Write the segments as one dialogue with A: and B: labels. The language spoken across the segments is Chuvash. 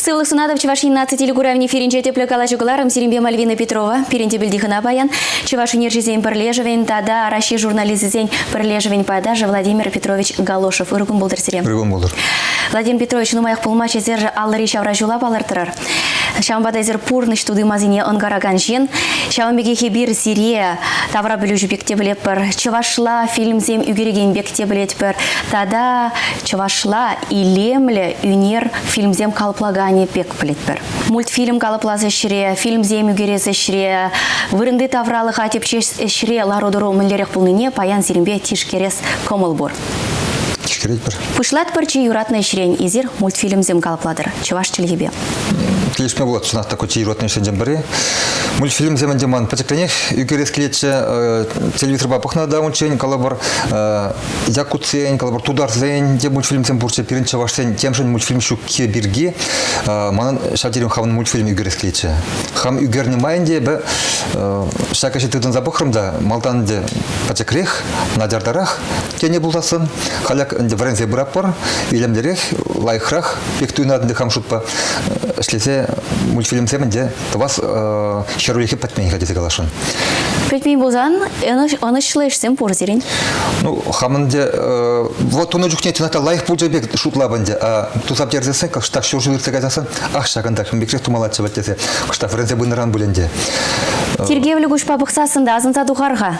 A: Сывлӑх сунатӑп Чӑваш Ен наци телекуравӗн эфирӗнче тӗплӗ калаҫу кӑларӑм. Сирӗнпе Мальвина Петрова, пирӗн тӗп пӗлтихӑна паян, Чӑваш Ӗнерҫисен пӗрлешӗвӗн тата Раҫҫей журналисчӗсен пӗрлешӗвӗн пайташӗ Владимир Петрович Галошев. Ыркун пултӑр сире. Ыркун пултӑр.
B: Владимир Петрович,
A: нумаях пулмасть эсир аллӑри ҫавра ҫула палӑртрӑр. Ҫавӑнпа та эсир пурнӑҫ тути-масине ӑнкаракан ҫын. Ҫавӑн пекех эпир сире таврапӗлӳҫӗ пек те пӗлетпӗр, чӑвашла фильмсем ӳкерекен пек те пӗлетпӗр тата чӑвашла илемлӗ ӳнер фильмсем калӑплаканӗ пек пӗлетпӗр. Мультфильм калӑплас ӗҫре, фильмсем ӳкерес ӗҫре, вырӑнти тавралӑха тӗпчес ӗҫре лару-тӑру мӗнлерех пулнине паян сирӗнпе тишкерес кӑмӑл пур. Кӗретпӗр. Пуҫлатпӑр чи юратнӑ ӗҫрен эсир мультфильмсем калӑплатӑр чӑваш чӗлхипе. Килӗшме пулать
B: чӑнах та ку чи юратнӑ ӗҫсенчен пӗри. Мультфильмсем ӗнтӗ ман пӗчӗкренех ӳкерес килетчӗ. Телевизорпа пӑхнӑ та унччен, калӑпӑр, якутсен, калӑпӑр, тутарсен те мультфильмсем пурччӗ. Пирӗн чӑвашсен темшӗн мультфильм ҫукки пирки манӑн ҫав терен хамӑн мультфильм ӳкерес килетчӗ. Хам ӳкернӗ май ӗнтӗ эпӗ ҫак ӗҫе тытӑнса пӑхрӑм та малтан ӗнтӗ пӗчӗкрех, начартарах тенӗ пулсассӑн халӗ вӗренсе пыратпӑр илемлӗрех лайӑхрах пек туйӑнатӑн хам шутпа ӗҫлесе мультфильмсем ӗнтӗ тӑвас ҫӗрулӗхе пӗтмен-ха тесе каласшӑн. Пӗтмен
A: пулсан ӑнӑҫлӑ ӗҫсем пур сирӗн? Ну, хамӑн
B: те вот тунӑ чухне чӑнах та лайӑх пулчӗ пек шутлап ӗнтӗ, а туса персессен кӑштах ҫурҫул иртсе каяссан ах ҫакӑнтах микрех тумаллаччӗ вӗт тесе кӑштах вӗренсе пынӑран пуль ӗнтӗ. Тиркевлӗ
A: куҫпа пӑхсассӑн та асӑнса тухар-ха.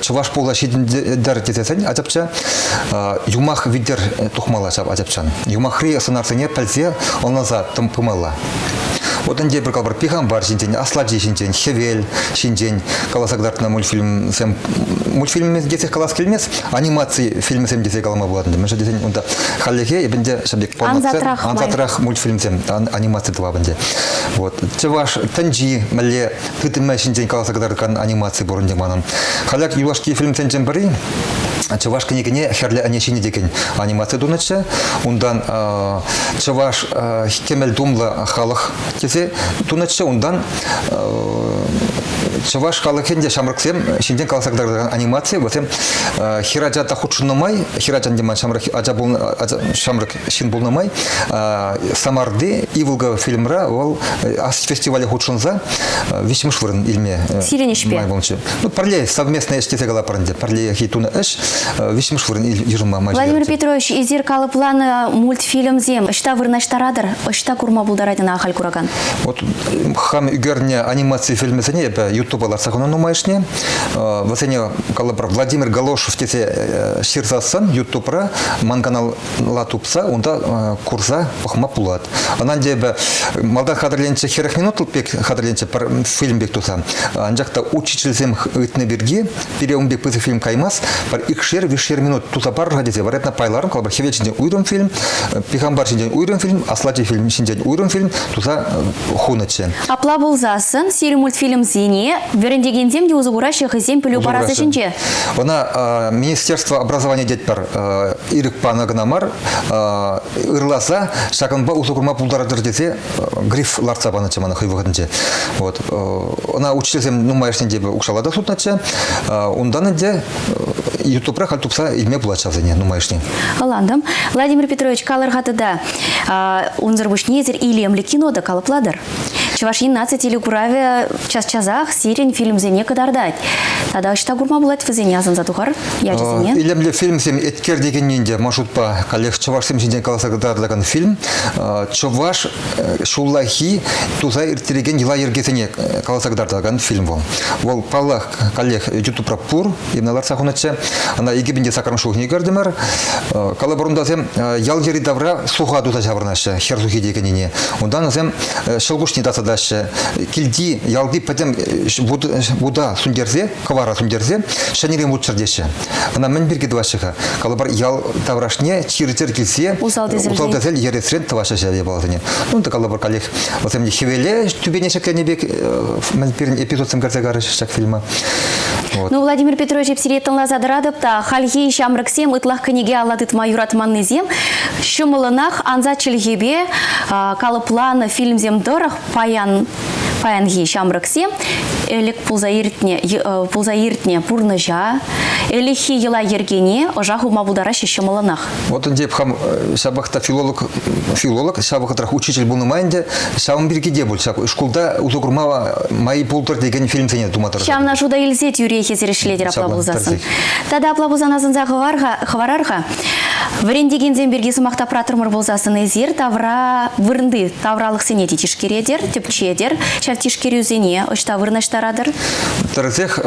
B: чӑваш пула ҫитӗнтер тесен ачапча юмах витӗр тухмалла ҫав ачапчан. Юмахри сӑнарсене пӗлсе ӑнланса тӑм пымалла. Вот ӗнтӗ пӗр калӑпӑр пихампар ҫинчен, аслати ҫинчен, хӗвел ҫинчен каласа кӑтартнӑ мультфильмсем мультфильм тесе калас килмест, анимаци фильмсем тесе калама пулатӑн. Мӗншӗн тесен унта хальлӗхе эпӗнте ҫав пек ансатрах мультфильмсем, анимаци тӑвап ӗнтӗ. Вот чӑваш тӗнчи мӗнле тытӑмӗ ҫинчен каласа кӑтартакан анимаци пур ӗнтӗ манӑн. Халях юлашки фильмсенчен пӗри чӑваш кӗнекене хӗрлӗ ӗне ҫинӗ текен анимаци тунӑччӗ. Унтан чӑваш кӗмӗл тумлӑ халӑх тесе тунӑччӗ. Унтан чӑваш халӑхӗн те ҫамрӑксем ҫинчен каласа кӑтартакан анимаци. Вӗсем хӗр ача та хутшӑннӑ май хӗр ачан те ман ҫамрӑк ача пулнӑ ҫамрӑк ҫын пулнӑ май Самарти Иволга фильмра вӑл Асич фестивале хутшӑнса виҫҫӗмӗш вырӑн илме сирӗн ӗҫпе май пулчӗ.
A: Ну, пӗрле
B: совместная ӗҫ тесе калапӑр ӗнтӗ. Пӗрлехи тунӑ ӗҫ виҫҫӗмӗш вырӑн йышӑнма май Владимир Петрович, эсир
A: калӑпланӑ мультфильмсем ӑҫта вырнаҫтаратӑр, ӑҫта курма пултарать ӑна ахаль куракан? Вот
B: хам ӳкернӗ анимаци фильмӗсене эпӗ Ютуба лартса хунӑ нумайӑшне. Вӗсене калӑпӑр Владимир Галошев тесе ҫырсассӑн Ютубра ман канал ла тупса унта курса пӑхма пулать. Ӑна ӗнтӗ эпӗ малта хатӗрленчӗ хӗрӗх минутл пек хатӗрленчӗ пӗр фильм пек туса. Анчах та учительсем ыйтнӑ пирки пире ун пек пысӑк фильм каймасть, пӗр икшер виҫшер минут туса парӑр-ха тесе варатна пайларӑм, калӑпӑр хӗвел ҫинчен уйрӑм фильм, пихампар ҫинчен уйрӑм фильм, аслати фильм ҫинчен уйрӑм фильм туса хунӑччӗ. Апла пулсассӑн
A: сирӗн мультфильмсене вӗрентекенсем те усӑ кураҫҫӗ хӑйсен пӗлӳ парасӗ ҫинче. Ӑна
B: министерство образования тетпӗр. ирӗк панӑ кӑна мар, ырласа ҫакӑнпа усӑ курма пултаратӑр тесе гриф лартса панӑччӗ мана хӑй вӑхӑтӗнче. Вот. Ӑна учительсем нумайӑшне те укҫалла та сутнӑччӗ. Унтан ӗнтӗ ютубра халь тупса илме пулать ҫавсене нумайӑшне. Ӑлантӑм.
A: Владимир Петрович, калӑр-ха тата, унсӑр пуҫне эсир илемлӗ кино та калӑплатӑр. Чӑваш Ен наци телекуравӗ час-часах сирӗн фильмсене кӑтартать. Тата ӑҫта курма пулать вӗсене асӑнса тухар ячӗсене? Илемлӗ фильмсем
B: Эткер текенни те маршрутпа каллех чӑвашсем ҫинчен каласа кӑтартакан фильм. Чӑваш ҫуллахи туса ирттерекен йӑла-йӗркесене каласа кӑтартакан фильм вӑл. Вӑл паллах каллех ютубра пур. Килне лартса хунӑччӗ. Ӑна икӗ пин те сакӑрмӗш ҫулхине кӗртӗмӗр. Калӑпӑрунтасем ял йӗри тавра суха туса ҫаврӑнаҫҫӗ хӗр сухи текеннине. Унтан вӗсем ҫӑлкуҫне тасатаҫҫӗ. Килти, ялти пӗтӗм вута сӳнтерсе, кӑвара сӳнтерсе ҫӗнӗрен вут чӗртеҫҫӗ. Ӑна мӗн пирки тӑваҫҫӗ-ха? Калӑпӑр ял таврашне чир-чӗр килсе усал-тӗсел ересрен тӑваҫҫӗ ҫав япаласене. Унта калӑпӑр каллех вӗсем хӗвеле тӳпене ҫӗкленӗ пек мӗн пирӗн эпизодсем кӗрсе карӗҫ ҫак фильма. Ну, Владимир Петрович,
A: эп сире тӑнласа тӑратӑп та, хальхи ҫамрӑксем ытлах кӗнеке алла тытма юратманнисем ҫӑмӑллӑнах ансат чӗлхепе калӑпланӑ фильмсем тӑрӑх паян паянхи ҫамрӑксем ӗлӗк пулса иртнӗ пулса иртнӗ пурнӑҫа, ӗлӗкхи йӑла-йӗркене ӑша хывма пултараҫҫӗ ҫӑмӑллӑнах. Вот ӗнтӗ эп хам
B: э, ҫапах та филолог, филолог, ҫав вӑхӑтрах учитель пулнӑ май ӗнтӗ, ҫавӑн пирки те пуль, ҫак шкулта усӑ курма май пултӑр текен фильмсене тума тӑрӑшатӑп. Ҫавна шута илсе
A: тӳрех эсрешлетӗр апла пулсассӑн. Тата апла пулсан асӑнса хӑварар-ха, вӗрентекенсем пирки сӑмах тапратӑрмӑр пулсассӑн, эсир тавра вырӑнти тавралӑхсене те тишкеретӗр, тӗпчетӗр, ҫав тишкерӳсене ӑҫта вырнаҫтаратӑр? Тӗрӗсех,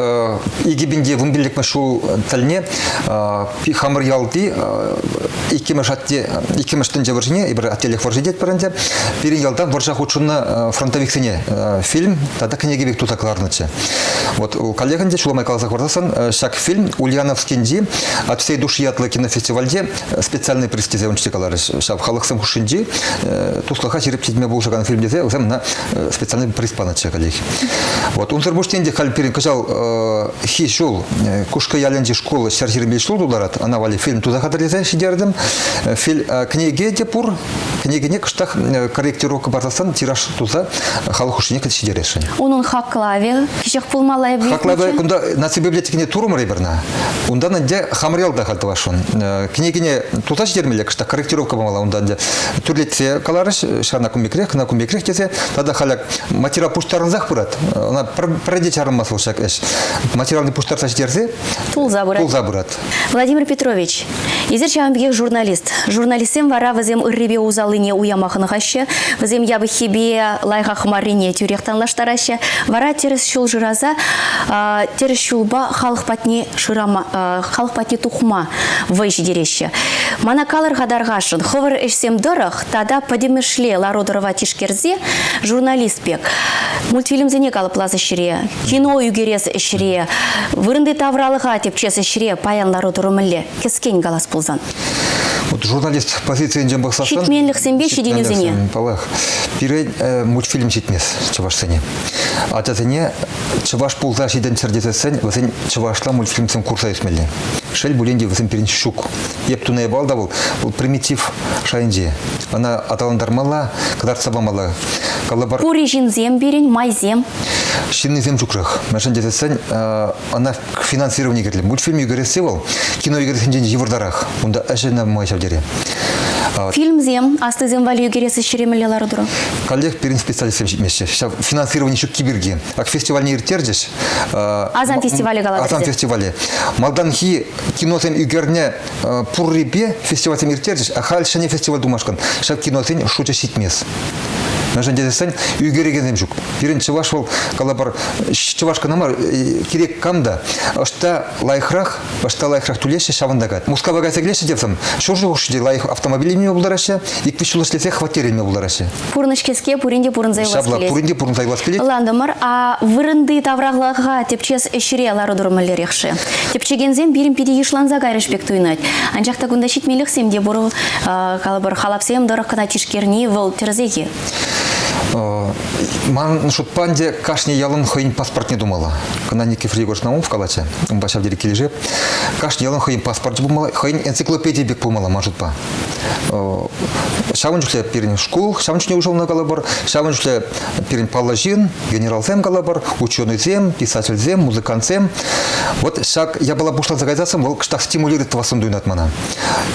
B: икӗ пин те вун пиллӗкмӗш ҫул тӗлне Хамӑрялти иккӗмӗш атте иккӗмӗш тӗнче вӑрҫине эпир аттелӗх вӑрҫи тетпӗр ӗнтӗ пирӗн ялтан вӑрҫа хутшӑннӑ фронтовиксене фильм тата кӗнеке пек туса кӑларнӑччӗ. Вот у коллегин те ҫулламай каласа хӑварсассӑн ҫак фильм Ульяновскинчи от всей души ятлӑ кинофестивальте специальный приз тесе унччен каларӗҫ. Ҫав халӑхсем хушшинчи туслӑха ҫирӗп ҫитме пулӑшакан фильм тесе вӗсем ӑна специальный приз панӑччӗ коллеги. Вот унсӑр пуҫне те халь пирӗн кӑҫал Ӗҫхи ҫул э, Кушкӑ ялӗнчи шкул ҫӗр ҫырми ҫул тутарать. Ана валли фильм туса хатӗрлесе ҫитердім. Э, фильм э, кӗнеке те пур. Кӗнекене кӑштах корректировка парсассан тираж туса халӑх хушшине кӗтсе ҫитересшӗн. Унӑн хаклавӗ
A: кӗҫех пулмалла эпӗ. Хаклавӗ кунта наци
B: библиотекине турмӑр эпӗрна. Унтан ӗнтӗ хамрел та хал тӑвасшӑн. Кӗнекене туса ҫитермелле кӑштах корректировка памалла унта ӗнтӗ. Тӳрлетсе каларӗҫ, ҫавна кун пекрех, кӑна кун пекрех тесе. Тата халӗ материал пуҫтарӑнсах пырать. Ӑна пӗр те чарӑнмасть вӑл ҫак ӗҫ. Материалне пуҫтарса ҫитерсе тулса пырать. Тулса
A: пырать.
B: Владимир Петрович,
A: эсир ҫавӑн пекех журналист. Журналистсем вара вӗсем ыррипе усаллине уяма хӑнӑхаҫҫӗ, вӗсем япӑххипе лайӑхах маррине тӳрех танлаштараҫҫӗ. Вара тӗрӗс ҫул шыраса тӗрӗс ҫулпа халӑх патне шырама, халӑх патне тухма вӑй ҫитереҫҫӗ. Мана калӑр-ха, тархасшӑн, хӑвӑр ӗҫсем тӑрӑх Тата пӗтӗмӗшле лару-тӑрӑва тишкерсе журналист пек мультфильмсене калӑплас ӗҫре, кино ӳкерес ӗҫре, вырӑнти тавралӑха тӗпчес ӗҫре паян лару-тӑру мӗнле кӗскен калас пулсан. Вот
B: журналист позицийӗнчен пӑхсассӑн... Ҫитменлӗхсемпе ҫитӗнӳсене.
A: Паллах.
B: Пире э, мультфильм ҫитмест чӑвашсене. Ачасене чӑваш пулса ҫитӗнччӗр тесессӗн вӗсен чӑвашла мультфильмсем курса ӳсмелле. Шел пулин те, вӗсем пирӗн ҫук. Ептуней балда вӑл, вӑл примитив шайӗнче. Ӑна аталантармалла, кӑтартса памалла. Калӑпӑр... Пури
A: ҫынсем пирӗн, майсем. Ҫыннисем
B: ҫукрах. Мӗншӗн тесен ӑна финансировани кирлӗ. Мультфильм ӳкересси вӑл кино ӳкерессинчен йывӑртарах. Унта ӗҫӗ нумай ҫав тери. Фильмсем,
A: аслисем валли ӳкерес ӗҫ ҫӳремелле лару-тӑру. Каллех пирӗн
B: специалистсем ҫитмеҫҫӗ. Ҫав финансировани ҫукки пирки. Ак фестивальне ирттерчӗҫ. Асан
A: фестивалӗ калатӑр. Асан фестивалӗ.
B: Малтанхи киносен ӳкерне пуррипе фестивальсем ирттерчӗҫ, а халь ҫӗнӗ фестиваль тумашкӑн ҫак киносен шучӗ ҫитмест. Мӗншӗн тесен ӳкерекенсем ҫук. Пирӗн чӑваш вӑл калапар чӑваш кӑна мар, э, кирек кам та ӑҫта лайӑхрах, ӑҫта лайӑхрах тулеҫҫӗ, ҫавӑнта кать. Мускава кайса килеҫҫӗ те сам ҫур ҫул хушши те лайӑх автомобиль илме пултараҫҫӗ, ик-виҫ ҫул ӗҫлесе хваттер илме пултараҫҫӗ. пурнӑҫ-кеске пурин
A: те пурӑнса юлас Ҫапла, килет. пурин те пурӑнса юлас килет.
B: Ӑнлантӑмӑр. А
A: вырӑнти тавралӑха тӗпчес ӗҫре лару-тӑру мӗнлерех-ши? Тӗпчекенсем пирӗн питӗ йышланса кайрӑш пек туйӑнать. Анчах та кунта ҫитмелӗхсем те пур. Калӑпӑр, халапсем тӑрӑх кӑна тишкерни вӑл тӗрӗсех-и?
B: Ман шутпа ӗнтӗ кашни ялӑн хӑйӗн паспортне тумалла. Кӑна Никифор Егорович Наумов калатчӗ, унпа ҫав тери килӗшеп. Кашни ялӑн хӑйӗн паспорчӗ пулмалла, хӑйӗн энциклопедийӗ пек пулмалла ман шутпа. Ҫавӑн чухлӗ пирӗн шкул, ҫавӑн чухне уҫӑлнӑ калӑпӑр, ҫавӑн чухлӗ пирӗн паллӑ ҫын, генералсем калӑпӑр, ученӑйсем, писательсем, музыкантсем. Вот ҫак япала пуҫланса кайсассӑн вӑл кӑштах стимулирует тӑвассӑн туйӑнать мана.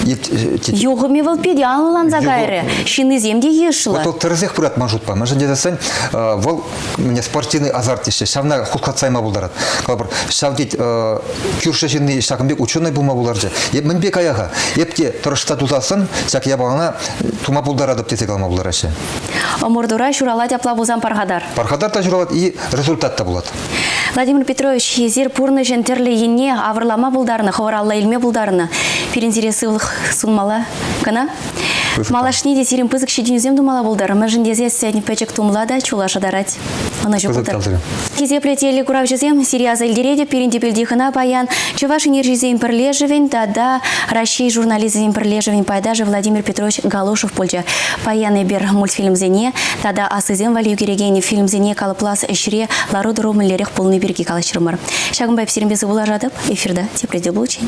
A: Юхӑмӗ вӑл питӗ анланса кайрӗ. Ҫыннисем те йышлӑ. Вот вӑл тӗрӗсех пырать ман
B: шутпа. Мӗншӗн тесессӗн вӑл спортивный азарт теҫҫӗ, ҫавна хутлатса пултарать. Калӑпӑр, ҫав тет кӳршӗ ҫынни ҫакӑн пек ученый пулма пултарчӗ. Эп мӗнпе кая-ха? Эп те тӑрӑшса тусассӑн ҫак япалана тума пултаратӑп тесе калама пултараҫҫӗ. Ӑмӑртура
A: ҫуралать апла пулсан пархатар. Пархатар та ҫуралать и
B: результат та пулать. Владимир Петрович,
A: эсир пурнӑҫӑн тӗрлӗ енне авӑрлама пултарнӑ, хӑвӑр алла илме пултарнӑ. Пирӗн сире сывлӑх сунмалла кӑна. Малашне те сирӗн пысӑк ҫитӗнӳсем тумала пултар, мӗншӗн тесессӗн пӗчӗк тумла та чула шӑтарать. Ӑнӑҫу пултар. Хисеплӗ телеграфҫӑсем, сире аса илтеретӗп, пирӗн тӗпелти хӑна паян Чӑваш энерджисен пӗрлешӗвӗн тата Раҫҫей журналисчӗсен пӗрлешӗвӗн пайташӗ Владимир Петрович Галушев пулчӗ. Паян эпир мультфильмсене тата аслисем валли ӳкерекен фильмсене калӑплас ӗҫре лару-тӑру мӗнлерех пулни пирки калаҫрӑмӑр. Ҫакӑнпа эп сирӗнпе сывпуллашатӑп. Эфирта тепре те пулчӗ.